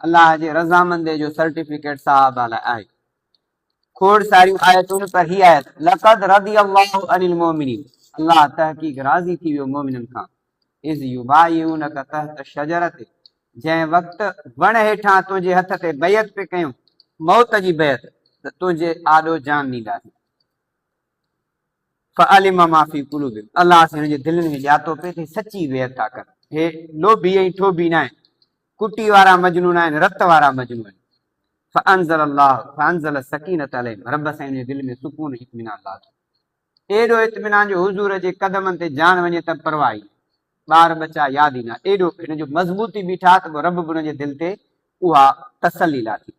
الله جي رضامندي جو سرٽيفڪيٽ صاحب لاء آهي. کوڙ ساريون آيتون پر هي آيت لقد رضي الله عن المؤمنين الله تحقيق راضي ٿي ويو مؤمنن کان اذ يبايعونك تحت الشجرة جنهن وقت وڻ هيٺان تنهنجي هٿ تي بيعت پي ڪيون موت جي بيعت ته تنهنجي آڏو جان ڏينداسين فعلم ما في قلوبهم الله سين جي دلن ۾ ڄاتو پي ته سچي بيعت ٿا ڪن هي لوڀي ۽ ٺوڀي نه آهن ڪٽي وارا مجنون آهن رت وارا مجنون فانزل الله فانزل السکينة عليهم رب سائين جي دل ۾ سڪون ۽ اطمينان لاٿو ايڏو اطمينان جو حضور جي قدمن تي جان وڃي ته پرواهه ئي ٻار ٻچا ياد ئي نه ايڏو هن جو مضبوطي بيٺا ته رب به هن جي دل تي اها تسلي لاٿي.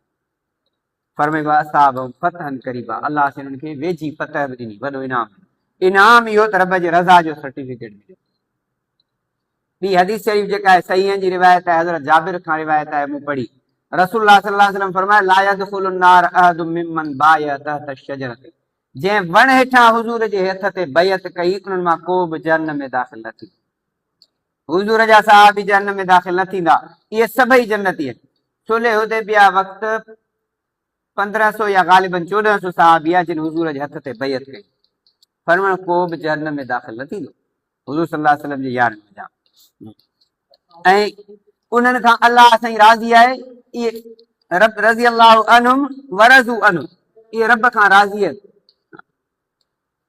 فرمائي واصابهم فتحا قريبا الله سائين انهن کي ويجهي فتح به ڏني وڏو انعام ڏنو انعام اهو ته رب جي رضا جو سرٽيفڪيٽ مليو ٻي حديث شريف جيڪا آهي صحيحن جي روايت آهي حضرت جابر کان روايت آهي مون پڙهي رسول الله صلي الله عليه وسلم فرمايو لا يدخل النار احد ممن بايع تحت الشجره جنهن وڻ هيٺان حضور جي هٿ تي بيعت ڪئي انهن مان ڪو به جهنم ۾ داخل نه ٿيندو حضور جا صحابي جهنم ۾ داخل نه ٿيندا، اهي سڀئي جنتي آهن. صلح حديبيه وقت پندرهن سو يا غالباً چوڏهن سو صحابيه جن حضور جي هٿ تي بيعت ڪئي، فرمايو ڪوبه جهنم ۾ داخل نه ٿيندو، حضور صلي الله عليه وسلم جي يارن منجهان ۽ انهن کان الله سائين راضي آهي، اهي رب رضي الله عنهم ورضوا عنه اهي رب کان راضي آهن.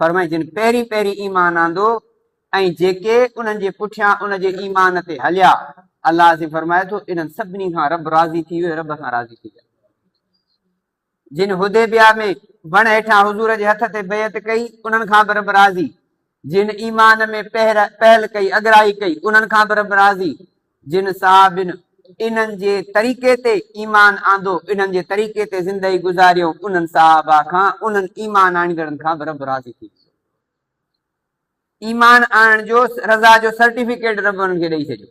فرمائي جن پهرين پهرين ايمان آندو ۽ جيڪي انهن جي پٺيان ان جي ايمان تي هليا الله عظيم فرمائي ٿو انهن سڀني کان رب راضي ٿي ويو رب کان راضي ٿي ويا جن حديبيا ۾ وڻ هيٺان حضور جي هٿ تي بيعت ڪئي انهن کان به رب راضي جن ايمان ۾ پهر پهل ڪئي اگرائي ڪئي انهن کان به رب راضي جن صحابين انهن جي طريقي تي ايمان آندو، انهن جي طريقي تي زندگي گذاريو، انهن صحابه کان انهن ايمان آڻيندڙن کان به رب راضي ٿي ويندو. ايمان آڻڻ جو رضا جو سرٽيفڪيٽ رب انهن کي ڏئي ڇڏيو.